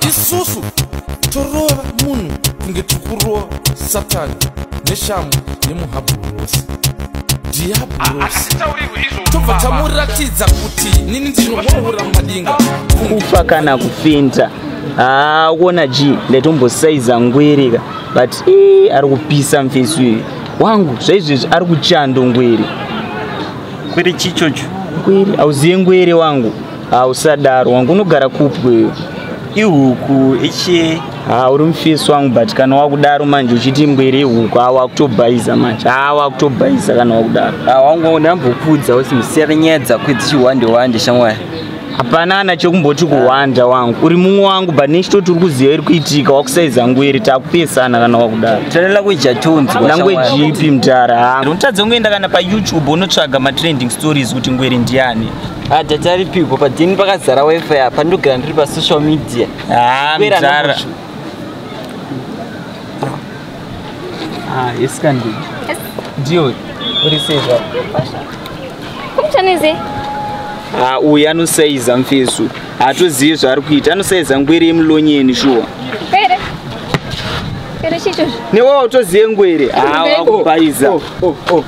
isusu torova munhu kunge tiri kurova satani neshamhu yemuhabhurosi diabhurositobva tamuratidza kuti nini ndinovaura madinga kufa kana kufinta haa kuona g ndatombosaiza ngwirika but e ari kupisa mfesu iyi wangu zvaizvezvi ari kuchando ngwiri kwiri chichocho ngwiri auziye ngwiri wangu Ah, usadaro wangu unogara kupi wewe? ihuku ichie Ah, uri mufesi wangu but kana wakudaro manje uchiti mbwere ihuku ah, wakutobhaiza manje ah, wakutobhaiza kana wakudaro Ah, wangu ndambokudza kuti musiyane nyaya dzako idzi chiwande wande shamwari hapana ana chekumboti kuhwanda wangu uri mumwe wangu but nechitoti uri kuziva iri kuitika wakusaiza ngwere takupesana kana wakudaro tana language yatonzwa language shamwari. ipi mdara ah. unotadza kungoenda kana payoutube unotsvaga matrending stories kuti ngwere ndiani Ah, tati aripiko padini pakazara wifi apa ndogara ndiri pasocial media ah, mzara ah, yes kandi ndiyo uri sezva kumchaneze ah, uyu anosaiza mfesu haatozivi zvaari kuita anosaiza ngwere yemulonyeni shuwa newe utozive ngwere hawa ah, kubaiza oh, oh, oh.